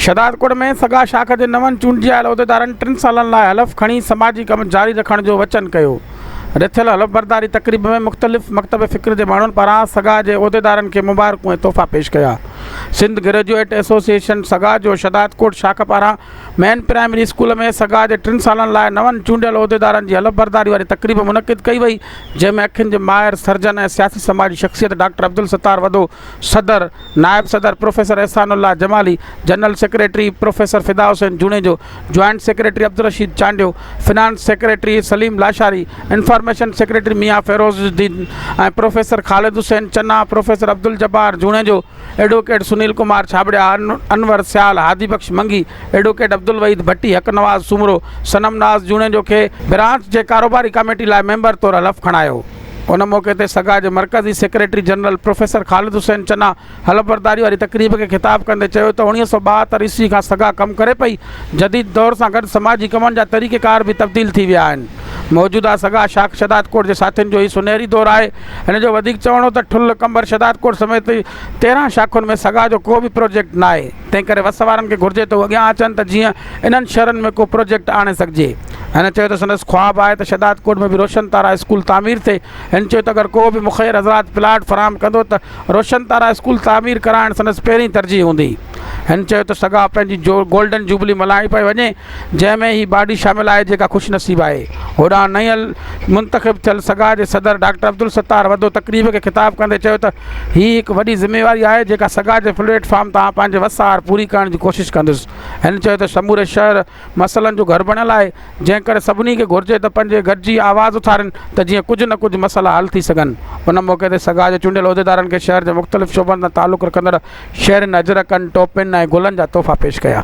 شهدادڪوٽ ۾ سگا شاخ جي نون چونڊجايل عهديدارن ٽن سالن لاء حلف کڻي سماجي ڪم جاري رکڻ جو وچن ڪيو. رٿيل حلف برداري تقريب ۾ مختلف مڪتب فڪر جي ماڻهن پاران سگا جي عهديدارن کي مبارڪون ۽ تحفا پيش ڪيا. سنڌ گريجوئيٽ ايسوسيئيشن سگا جو شهدادڪوٽ شاخ پاران مين پرائمري اسڪول ۾ سگا جي ٽن سالن لاء نون چونڊيل عهديدارن جي حلف برداري واري تقريب منعقد ڪئي وئي جنهن ۾ اکين جي ماهر سرجن ۽ سياسي سماجي شخصيت ڊاڪٽر عبدالستار وڌو، صدر، نائب صدر professor Ehsanullah Jamali, general secretary professor Fida Hussain Junejo, joint secretary Abdul Rasheed Chandio, finance secretary Saleem Lashari, information secretary Mian Ferozuddin ۽ professor Khalid Hussain Channa, professor Abdul Jabbar Junejo, advocate Sunil Kumar Chhabria, Anwar Sial, Hadi Bux Mangi, advocate Abdul Waheed Bhatti, Haq Nawaz Soomro, صنم ناز جوڻيجو کي برانچ جي ڪاروباري ڪاميٽي لاء ميمبر طور حلف کڻايو. ان موقعي تي سگا جي مرڪزي secretary general professor Khalid Hussain Channa حلف برداري واري تقريب کي خطاب ڪندي چيو ته اوڻيهه سؤ ٻاهتر عيسوي کان سگا ڪم ڪري پئي، جديد دور سان گڏ سماجي ڪمن جا طريقيڪار به تبديل ٿي ويا آهن، موجوده سگا شاخ شهدادڪوٽ جي ساٿين جو هي سونهري دور آهي. هن جو وڌيڪ چوڻ هو ته ٺل، قمبر، شهدادڪوٽ سميت تيرهن شاخن ۾ سگا جو ڪو به پروجيڪٽ ناهي، تنهنڪري وس وارن کي گهرجي ته هو اڳيان اچن ته جيئن انهن شھرن ۾ ڪو پروجيڪٽ آڻي سگهجي. هن چيو ته سندس خواب آهي ته شهدادڪوٽ ۾ به روشن تارا اسڪول تعمير ٿئي. هن چيو ته اگر ڪو به مخير حضرات پلاٽ فراهم ڪندو ته روشن تارا اسڪول تعمير ڪرائڻ سندس پهرين ترجيح هوندي. هن چيو ته سگا پنهنجي گولڊن جوبلي ملهائي پئي وڃي جنهن ۾ هي باڊي شامل آهي جيڪا خوش نصيب آهي هوڏانهن نئين منتخب ٿيل سگا جي صدر ڊاڪٽر عبدالستار وڌو تقريب کي خطاب ڪندي چيو ته هي هڪ وڏي ذميواري آهي جيڪا سگا جي پليٽ فارم تان پنهنجي وس آهر پوري ڪرڻ جي ڪوشش ڪندس هن چيو ته سموري شهر مسئلن جو گهر بڻيل آهي جنهن ڪري سڀني کي گهرجي ته پنهنجي گڏجي آواز اٿارين ته جيئن ڪجهه نه ڪجهه مسئلا حل ٿي سگهن ان موقعي تي سگا جي چونڊيل عهديدارن کي شهر جي مختلف شعبن سان تعلق رکندڙ شهرين اجرڪن، ٽوپين ۽ گلن جا تحفا پيش ڪيا.